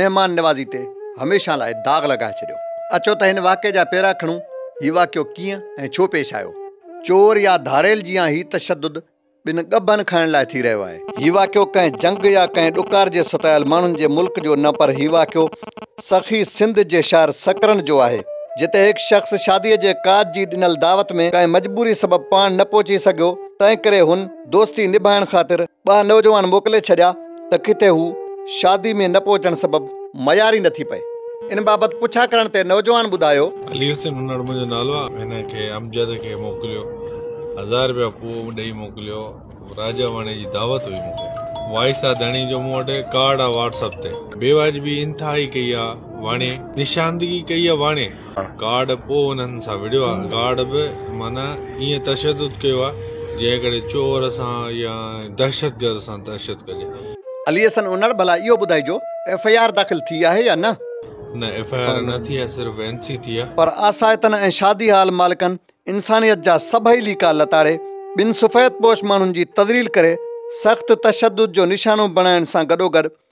مهمان نوازي تي هميشه لاء داغ لڳائي ڇڏيو. اچو ته هن واقعي جا پيرا کڻون، هي واقعو ڪيئن ۽ ڇو پيش آيو؟ چور يا ڌاڙيل جيان هي تشدد ٻن ڳڀن کائڻ لاء ٿي رهيو آهي. هي واقعو ڪنهن جنگ يا ڪنهن ڏڪار جي ستايل ماڻهن جي ملڪ جو نه پر هي واقعو سخي سنڌ جي شهر سڪرنڊ جو آهي جتي هڪ شخص شاديء جي ڪاڄ جي ڏنل دعوت ۾ ڪنهن مجبوري سبب پاڻ نه پهچي سگهيو تنهن ڪري هن دوستي نڀائڻ خاطر ٻه نوجوان موڪلي ڇڏيا ته ڪٿي هو شادي ۾ نه پهچڻ سبب ميار ئي نه ٿي پئي. ان بابت پڇا ڪرڻ تي نوجوان ٻڌايو. علي حسين هنڙ منهنجو نالو آهي. هن کي امجد کي موڪليو. هزار رپيا پوء ڏئي موڪليو. راجا واڻي جي دعوت هئي مون کي. وائس آ ڌڻي جو مون وٽ ڪارڊ آ واٽس اپ تي. بيواجبي انتهائي ڪئي آ واڻي. نشاندگي ڪئي آ واڻي. گارڊ پوء انهن سان وڙهيو آ. گارڊ به معنيٰ ائين تشدد ڪيو آ جنهن ڪري چور سان يا دهشتگرد سان دهشت ڪجي. علي حسن انڙ ڀلا اهو ٻڌائجو ايف آء آر داخل ٿي آهي يا نه؟ نه ايف آء آر نه ٿي آهي صرف اين سي ٿي آ. پر آسائتن ۽ شادي هال مالڪن انسانيت جا سڀئي ليڪا لتاڙي ٻن سفيد پوش ماڻهن جي تذليل ڪري سخت تشدد جو نشانو بڻائڻ سان گڏوگڏ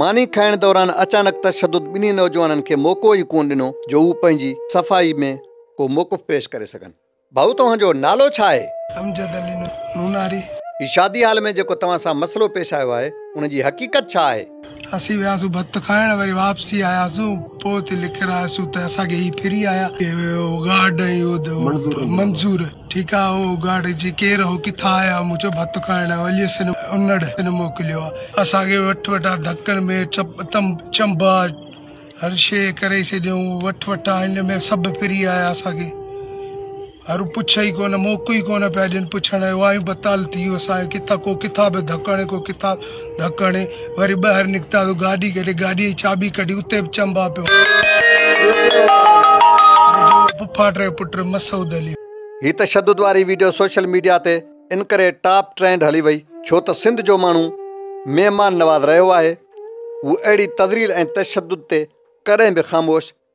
ماني کائڻ دوران اچانڪ تشدد ٻنهي نوجوانن کي موقعو ئي ڪونه ڏنو جو هو پنهنجي صفائي ۾ ڪو موقف پيش ڪري سگهن. ڀائو توهان جو نالو ڇا آهي؟ امجد علي نوناري. هي شادي هال ۾ جيڪو توهان سان مسئلو پيش آيو آهي ان جي حقيقت ڇا آهي؟ اسين وياسون ڀت کائڻ وري واپسي آياسون پوء اتي لڪير آياسون ته اسان کي هي ڦري آيا. اهو گارڊ ۽ اهو منظور. ٺيڪ آ او اگهاڙ جي ڪير هو ڪٿان آيا مون چيو ڀت کائڻ علي سين انڙ سين موڪليو آ اسان کي وٺ وٺا ڌڪن ۾ چپ تم چنب آ هر شي ڪري ڇڏيون وٺ وٺا هن ۾ سڀ ڦري آيا اسان کي هر پڇ ئي ڪونه موقعو ئي ڪونه پيا ڏين پڇڻ جو وايون بتال ٿي ويو اسان کي ڪٿان ڪو ڪٿان به ڌڪڻ ڪو ڪٿان ڍڪڻ وري ٻاهر نڪتا ته گاڏي ڪڍي گاڏي جي چاٻي ڪڍي اتي به چنبا پيو پڦاٽ جو پٽ مسعود علي هي تشدد واري ويڊيو سوشل ميڊيا تي ان ڪري ٽاپ ٽرينڊ هلي وئي ڇو ته سنڌ جو ماڻهو مهمان نواز رهيو آهي هو اهڙي تذليل ۽ تشدد تي ڪڏهن به خاموش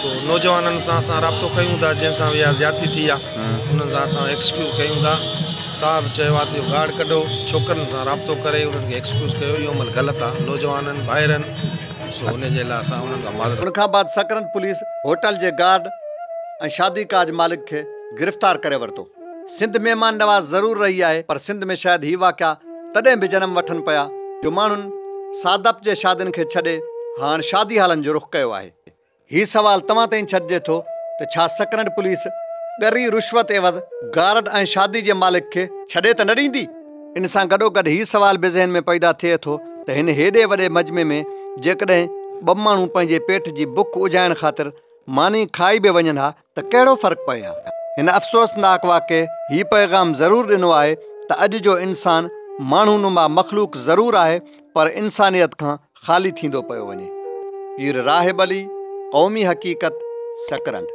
سو نوجوانن سان اسان رابطو ڪيون ٿا جن سان ويا زيادتي ٿي آ انهن سان اسان ايڪسڪيوز ڪيون ٿا صاحب چيو آ ته اهو گارڊ ڪڍو ڇوڪرن سان رابطو ڪري انهن کي ايڪسڪيوز ڪيو اهو عمل غلط آ نوجوانن ڀائرن سو ان جي لاء اسان انهن کان معذرت ان کان بعد سڪرنڊ پوليس هوٽل جي گارڊ ۽ شادي ڪاج مالڪ کي گرفتار ڪري ورتو. سنڌ مهمان نواز ضرور رهي آهي پر سنڌ ۾ شايد هي واقعا تڏهن به جنم وٺن پيا جو ماڻهن سادپ جي شادين کي ڇڏي هاڻ شادي هالن جو رخ ڪيو آهي. هي سوال توهان تائين ڇڏجي ٿو ته ڇا سڪرنڊ پوليس ڳري رشوت عيوض گارڊ ۽ شادي جي مالڪ کي ڇڏي ته نه ڏيندي؟ ان سان گڏوگڏ هي سوال به ذهن ۾ پيدا ٿئي ٿو ته هن هيڏي وڏي مجمي ۾ جيڪڏهن ٻه ماڻهو پنهنجي پيٽ جي بک اجهائڻ خاطر ماني کائي به وڃن ها ته ڪهڙو فرق پئي ها. هن افسوسناڪ واقعي هي پيغام ضرور ڏنو آهي ته اڄ جو انسان ماڻهو نما مخلوق ضرور آهي پر انسانيت کان خالي ٿيندو پيو وڃي. پير راهب علي، قومي حقيقت، سڪرنڊ.